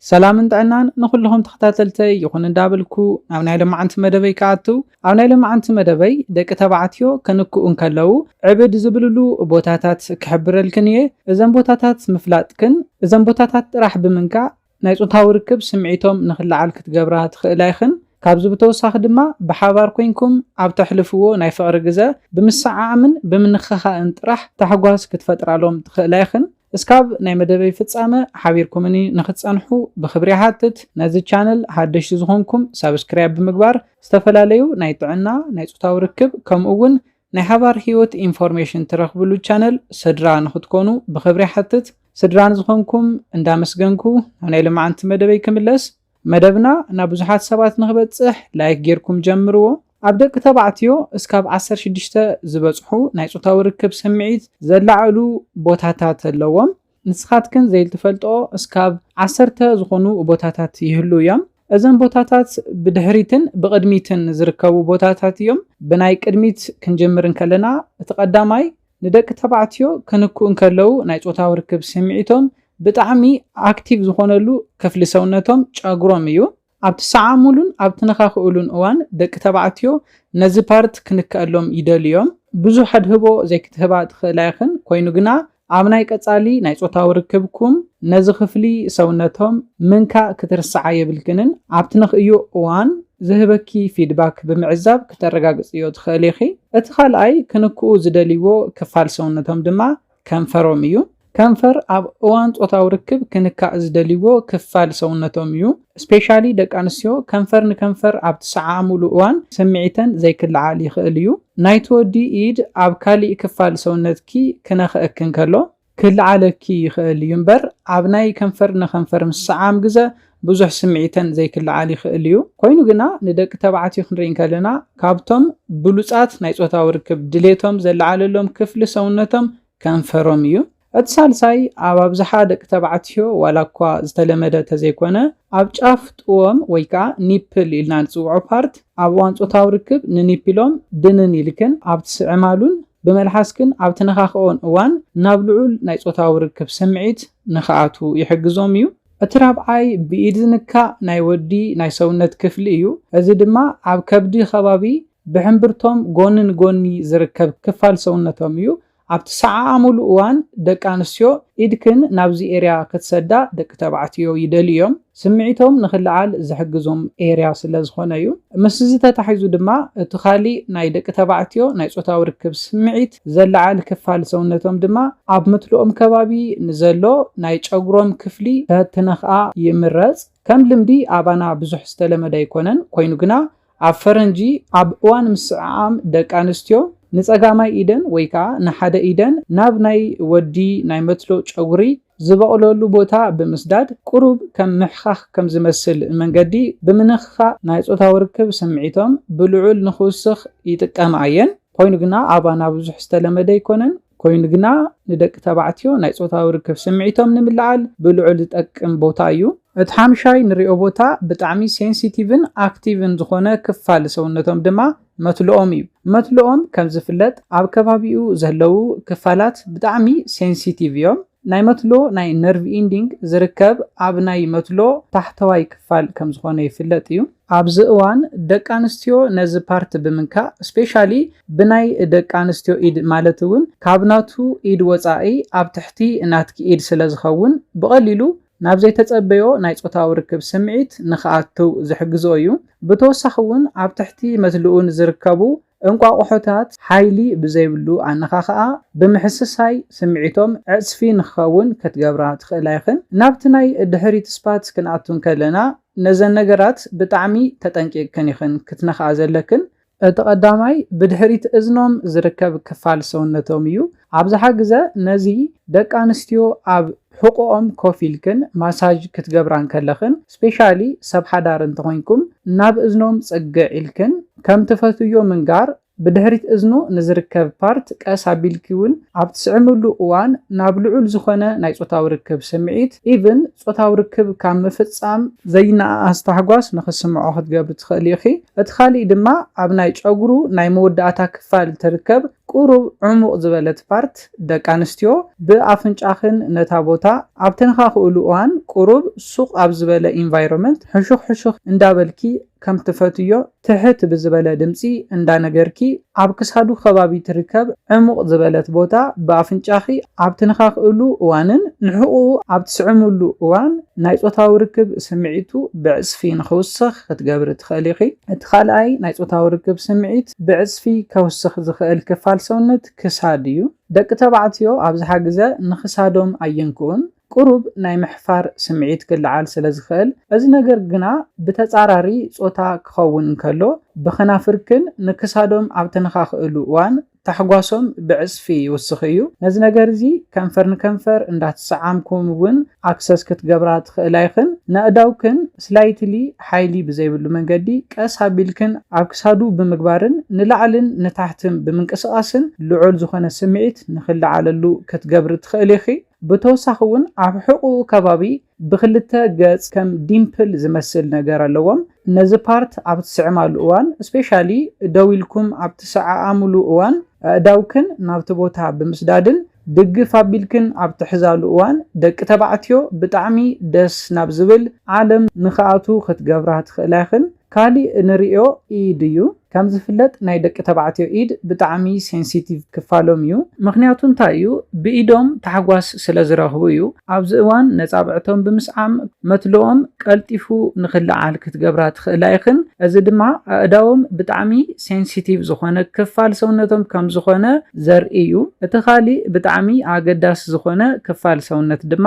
ሰላምን ጥዕናን ንኹልኹም ተኸታተልተይ ይኹን እንዳበልኩ ናብ ናይ ሎማዓንቲ መደበይ ክኣቱ ኣብ ናይ ሎማዓንቲ መደበይ ደቂ ተባዕትዮ ከንክኡ እንከለዉ ዕብድ ዝብልሉ ቦታታት ክሕብረልክን እየ እዘን ቦታታት ምፍላጥክን እዘን ቦታታት ጥራሕ ብምንካእ ናይ ፆታዊ ርክብ ስምዒቶም ንክለዓል ክትገብራ ትኽእላ ኢኽን ካብዚ ብተወሳኺ ድማ ብሓባር ኮንኩም ኣብ ተሕልፍዎ ናይ ፍቕሪ ግዘ ብምሰዓዓምን ብምንኽኻእን ጥራሕ ታሕጓስ ክትፈጥራሎም ትኽእላ ኢኽን እስካብ ናይ መደበይ ፍጻመ ሓቢርኩምኒ ንክትጸንሑ ብክብሪ ይሓትት ነዚ ቻነል ሃደሽቲ ዝኮንኩም ሳብስክርያብ ብምግባር ዝተፈላለዩ ናይ ጥዕና ናይ ጾታዊ ርክብ ከምኡ ውን ናይ ሓባር ሂወት ኢንፎርሜሽን ትረክብሉ ቻነል ስድራ ንክትኮኑ ብክብሪ ይሓትት ስድራ ንዝኮንኩም እንዳመስገንኩ ናብ ናይ ልማዓንቲ መደበይ ክምለስ መደብና ናብ ብዙሓት ሰባት ንክበጽሕ ላይክ ጌርኩም ጀምርዎ። ኣብ ደቂ ተባዕትዮ እስካብ ዓሰርተ ሽዱሽተ ዝበጽሑ ናይ ጾታዊ ርክብ ስምዒት ዘላዕዕሉ ቦታታት ኣለዎም። ንስኻትክን ዘይልትፈልጥኦ እስካብ ዓሰርተ ዝኾኑ ቦታታት ይህልው እዮም። እዘን ቦታታት ብድሕሪትን ብቕድሚትን ዝርከቡ ቦታታት እዮም። ብናይ ቅድሚት ክንጅምር እንከለና እቲ ቀዳማይ ንደቂ ተባዕትዮ ክንክኡ እንከለዉ ናይ ጾታዊ ርክብ ስምዒቶም ብጣዕሚ ኣክቲቭ ዝኾነሉ ክፍሊ ሰውነቶም ጨጉሮም እዩ። ኣብ ትሰዓሙሉን ኣብ ትነኻኽእሉን እዋን ደቂ ተባዕትዮ ነዚ ፓርት ክንከኣሎም ይደልዩ እዮም። ብዙሕ ኣድህቦ ዘይክትህባ ትኽእላ ኢኽን፣ ኮይኑ ግና ኣብ ናይ ቀጻሊ ናይ ጾታዊ ርክብኩም ነዚ ክፍሊ ሰውነቶም ምንካእ ክትርስዓ የብልክንን። ኣብ ትነኽእዮ እዋን ዝህበኪ ፊድባክ ብምዕዛብ ክተረጋግጽዮ ትኽእሊ ኢኺ። እቲ ካልኣይ ክንክኡ ዝደልይዎ ክፋል ሰውነቶም ድማ ከንፈሮም እዩ። ከንፈር ኣብ እዋን ጾታዊ ርክብ ክንካእ ዝደልይዎ ክፋል ሰውነቶም እዩ። ስፔሻሊ ደቂ ኣንስትዮ ከንፈር ንከንፈር ኣብ ትሰዓዓሙሉ እዋን ስምዒተን ዘይክለዓል ይኽእል እዩ። ናይቲ ወዲ ኢድ ኣብ ካሊእ ክፋል ሰውነትኪ ክነኽኣኪ እንከሎ፣ ክልዓለኪ ይኽእል እዩ እምበር ኣብ ናይ ከንፈር ንከንፈር ምስዓም ግዘ ብዙሕ ስምዒተን ዘይክልዓል ይኽእል እዩ። ኮይኑ ግና ንደቂ ተባዕትዮ ክንርኢ እንከለና ካብቶም ብሉፃት ናይ ፆታዊ ርክብ ድሌቶም ዘለዓለሎም ክፍሊ ሰውነቶም ከንፈሮም እዩ። እቲ ሳልሳይ ኣብ ኣብዝሓ ደቂ ተባዕትዮ ዋላ እኳ ዝተለመደ ተዘይኮነ ኣብ ጫፍ ጥዎም ወይ ከዓ ኒፕል ኢልና ንፅውዖ ፓርት ኣብ እዋን ፆታዊ ርክብ ንኒፕሎም ድንን ኢልክን ኣብ ትስዕማሉን ብመልሓስክን ኣብ ትነኻኽእኦን እዋን ናብ ልዑል ናይ ጾታዊ ርክብ ስምዒት ንኽኣትዉ ይሕግዞም እዩ። እቲ ራብዓይ ብኢድ ዝንካእ ናይ ወዲ ናይ ሰውነት ክፍሊ እዩ፣ እዚ ድማ ኣብ ከብዲ ከባቢ ብሕምብርቶም ጎኒ ንጎኒ ዝርከብ ክፋል ሰውነቶም እዩ። ኣብ ትሰዓዓሙሉ እዋን ደቂ ኣንስትዮ ኢድክን ናብዚ ኤርያ ክትሰዳ ደቂ ተባዕትዮ ይደልዩ እዮም። ስምዒቶም ንኽልዓል ዝሕግዞም ኤርያ ስለ ዝኾነ እዩ። ምስዚ ተታሒዙ ድማ እቲ ካሊእ ናይ ደቂ ተባዕትዮ ናይ ጾታዊ ርክብ ስምዒት ዘለዓል ክፋል ሰውነቶም ድማ ኣብ ምትልኦም ከባቢ ንዘሎ ናይ ጨጉሮም ክፍሊ ተትነኽኣ ይምረጽ። ከም ልምዲ ኣባና ብዙሕ ዝተለመደ ኣይኮነን፣ ኮይኑ ግና ኣብ ፈረንጂ ኣብ እዋን ምስዕዓም ደቂ ኣንስትዮ ንጸጋማይ ኢደን ወይ ከኣ ንሓደ ኢደን ናብ ናይ ወዲ ናይ መትሎ ጨጉሪ ዝበቕለሉ ቦታ ብምስዳድ ቁሩብ ከም ምሕካኽ ከም ዝመስል መንገዲ ብምንኽኻእ ናይ ጾታዊ ርክብ ስምዒቶም ብልዑል ንኽውስኽ ይጥቀማ እየን። ኮይኑ ግና ኣባና ብዙሕ ዝተለመደ ኣይኮነን። ኮይኑ ግና ንደቂ ተባዕትዮ ናይ ጾታዊ ርክብ ስምዒቶም ንምልዓል ብልዑል ዝጠቅም ቦታ እዩ። እቲ ሓምሻይ ንሪኦ ቦታ ብጣዕሚ ሴንሲቲቭን ኣክቲቭን ዝኾነ ክፋል ሰውነቶም ድማ መትሎኦም እዩ። መትሎኦም ከም ዝፍለጥ ኣብ ከባቢኡ ዘለዉ ክፋላት ብጣዕሚ ሴንሲቲቭ እዮም። ናይ መትሎ ናይ ነርቭ ኢንዲንግ ዝርከብ ኣብ ናይ መትሎ ታሕተዋይ ክፋል ከም ዝኾነ ይፍለጥ እዩ። ኣብዚ እዋን ደቂ ኣንስትዮ ነዚ ፓርት ብምንካእ ስፔሻሊ ብናይ ደቂ ኣንስትዮ ኢድ ማለት እውን ካብ ናቱ ኢድ ወፃኢ ኣብ ትሕቲ ናትኪ ኢድ ስለ ዝኸውን ብቐሊሉ ናብ ዘይተፀበዮ ናይ ፆታዊ ርክብ ስምዒት ንክኣትው ዝሕግዝኦ እዩ። ብተወሳኺ እውን ኣብ ትሕቲ መትልኡ ንዝርከቡ እንቋቑሖታት ሓይሊ ብዘይብሉ ኣነኻኽኣ ብምሕስሳይ ስምዒቶም ዕጽፊ ንክኸውን ከትገብራ ትኽእላ ኢኽን። ናብቲ ናይ ድሕሪት ስፓት ክንኣቱ እንከለና ነዘን ነገራት ብጣዕሚ ተጠንቂቕክን ኢኽን ክትነኽኣ ዘለክን። እቲ ቀዳማይ ብድሕሪት እዝኖም ዝርከብ ክፋል ሰውነቶም እዩ። ኣብዝሓ ግዘ ነዚ ደቂ ኣንስትዮ ኣብ ሕቁኦም ኮፍ ኢልክን ማሳጅ ክትገብራ እንከለኽን ስፔሻሊ ሰብ ሓዳር እንተኾይንኩም ናብ እዝኖም ፅግዕ ኢልክን ከም ትፈትውዮ ምንጋር ብድሕሪት እዝኑ ንዝርከብ ፓርት ቀስ ኣቢልኪ ውን ኣብ ትስዕምሉ እዋን ናብ ልዑል ዝኾነ ናይ ፆታዊ ርክብ ስምዒት ኢቭን ፆታዊ ርክብ ካብ ምፍፃም ዘይነኣኣስ ታሕጓስ ንኽስምዖ ክትገብሪ ትኽእሊ ኢኺ። እቲ ካሊእ ድማ ኣብ ናይ ፀጉሩ ናይ መወዳእታ ክፋል ትርከብ ቁሩብ ዑሙቅ ዝበለት ፓርት ደቂ ኣንስትዮ ብ ኣፍንጫኽን ነታ ቦታ ኣብ ተንኻኽእሉ እዋን ቁሩብ ሱቅ ኣብ ዝበለ ኢንቫይሮመንት ሕሹኽ ሕሹኽ እንዳ በልኪ ከም ትፈትውዮ ትሕት ብዝበለ ድምጺ እንዳ ነገርኪ ኣብ ክሳዱ ከባቢ ትርከብ ዕሙቅ ዝበለት ቦታ ብ ኣፍንጫኺ ኣብ ትንኻኽእሉ እዋንን ንሕቁኡ ኣብ ትስዕምሉ እዋን ናይ ጾታዊ ርክብ ስምዒቱ ብዕጽፊ ንኽውስኽ ክትገብሪ ትኽእሊ ኢኺ። እቲ ካልኣይ ናይ ጾታዊ ርክብ ስምዒት። ሰውነት ብዕጽፊ ከውስኽ ዝኽእል ክፋል ሰውነት ክሳድ እዩ። ደቂ ተባዕትዮ ኣብዝሓ ግዘ ንክሳዶም ኣየንክኡን፣ ቁሩብ ናይ ምሕፋር ስምዒት ክለዓል ስለዝኽእል፣ እዚ ነገር ግና ብተጻራሪ ጾታ ክኸውን እንከሎ ብከናፍርክን ንክሳዶም ኣብ ተነኻኽእሉ እዋን ታሕጓሶም ብዕጽፊ ይውስኽ እዩ። ነዚ ነገር እዚ ከንፈር ንከንፈር እንዳተሰዓምኩም እውን ኣክሰስ ክትገብራ ትኽእላ ኢኽን። ነእዳውክን ስላይትሊ ሓይሊ ብዘይብሉ መንገዲ ቀስ ኣቢልክን ኣብ ክሳዱ ብምግባርን ንላዕልን ንታሕትን ብምንቅስቓስን ልዑል ዝኾነ ስምዒት ንኽለዓለሉ ክትገብሪ ትኽእሊ ኢኺ። ብተወሳኺ እውን ኣብ ሕቖኡ ከባቢ ብኽልተ ገፅ ከም ዲምፕል ዝመስል ነገር ኣለዎም ነዚ ፓርት ኣብ ትስዕማሉ እዋን ስፔሻሊ ደው ኢልኩም ኣብ ትሰዓዓሙሉ እዋን ኣእዳውክን ናብቲ ቦታ ብምስዳድን ድግፍ ኣቢልክን ኣብ ትሕዛሉ እዋን ደቂ ተባዕትዮ ብጣዕሚ ደስ ናብ ዝብል ዓለም ንክኣትዉ ክትገብራ ትክእላ ኢክን ካሊእ እንርእዮ ኢድ እዩ ከምዝፍለጥ ናይ ደቂ ተባዕትዮ ኢድ ብጣዕሚ ሴንሲቲቭ ክፋሎም እዩ ምክንያቱ እንታይ እዩ ብኢዶም ታሕጓስ ስለዝረክቡ እዩ ኣብዚ እዋን ነጻብዕቶም ብምስዓም መትሎኦም ቀልጢፉ ንኽለዓል ክትገብራ ትኽእላ ኢኽን፣ እዚ ድማ ኣእዳዎም ብጣዕሚ ሴንሲቲቭ ዝኾነ ክፋል ሰውነቶም ከም ዝኾነ ዘርኢ እዩ። እቲ ኻሊእ ብጣዕሚ ኣገዳሲ ዝኾነ ክፋል ሰውነት ድማ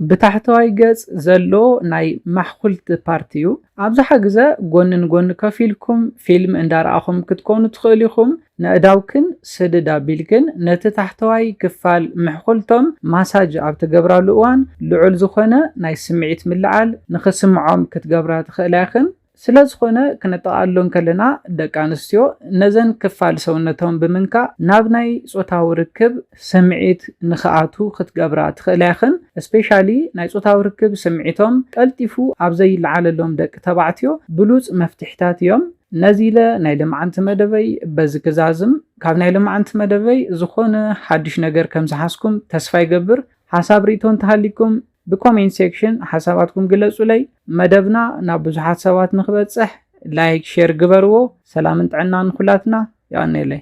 ብታሕተዋይ ገጽ ዘሎ ናይ ማሕኹልቲ ፓርት እዩ። ኣብዝሓ ግዘ ጎኒ ንጎኒ ከፍ ኢልኩም ፊልም እንዳረኣኹም ክትኮኑ ትኽእሉ ኢኹም። ነእዳውክን ስድድ ኣቢልክን ነቲ ታሕተዋይ ክፋል ምሕኹልቶም ማሳጅ ኣብ ትገብራሉ እዋን ልዑል ዝኾነ ናይ ስምዒት ምልዓል ንኽስምዖም ክትገብራ ትኽእላ ኢኽን። ስለዝኾነ ክነጠቓሎ እንከለና ደቂ ኣንስትዮ ነዘን ክፋል ሰውነቶም ብምንካእ ናብ ናይ ጾታዊ ርክብ ስምዒት ንኽኣትው ክትገብራ ትኽእላ ኢኽን። ስፔሻሊ ናይ ጾታዊ ርክብ ስምዒቶም ቀልጢፉ ኣብ ዘይልዓለሎም ደቂ ተባዕትዮ ብሉጽ መፍትሒታት እዮም። ነዚ ኢለ ናይ ልምዓንቲ መደበይ በዚ ክዛዝም ካብ ናይ ልምዓንቲ መደበይ ዝኾነ ሓዱሽ ነገር ከም ዝሓዝኩም ተስፋ ይገብር ሓሳብ ሪኢቶ እንተሃሊኩም ብኮሜንት ሴክሽን ሓሳባትኩም ግለጹለይ መደብና ናብ ብዙሓት ሰባት ንክበጽሕ ላይክ ሼር ግበርዎ ሰላምን ጥዕናን ንኩላትና የቀኔለይ